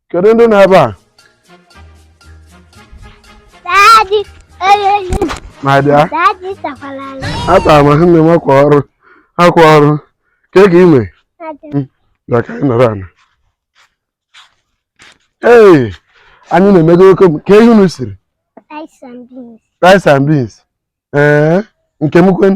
kedu ndị nọ ebe a Daddy, eh, eh, my dear daddy, takwalala. atara m nne m akwa ọrụ akwa ọrụ kee ka i me Daddy, bịa ka anyị nọrọ ana ee anyị na-emego oke m kee ihe unu siri rice and beans. rice and beans ee nke m kwen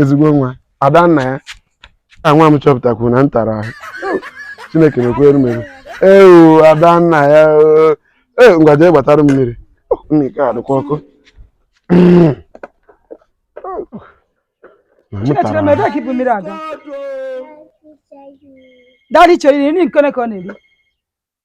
ezigbo nwa ada nna ya ka nwa m chọpụtakwu na m tara ahụ chineke mekwere m ebere ee ada nna ya ee ngwa jee gbatara m mmiri nne ka ọ dịkwa ọkụ Daddy chọrọ iri nri nke ọ na-eri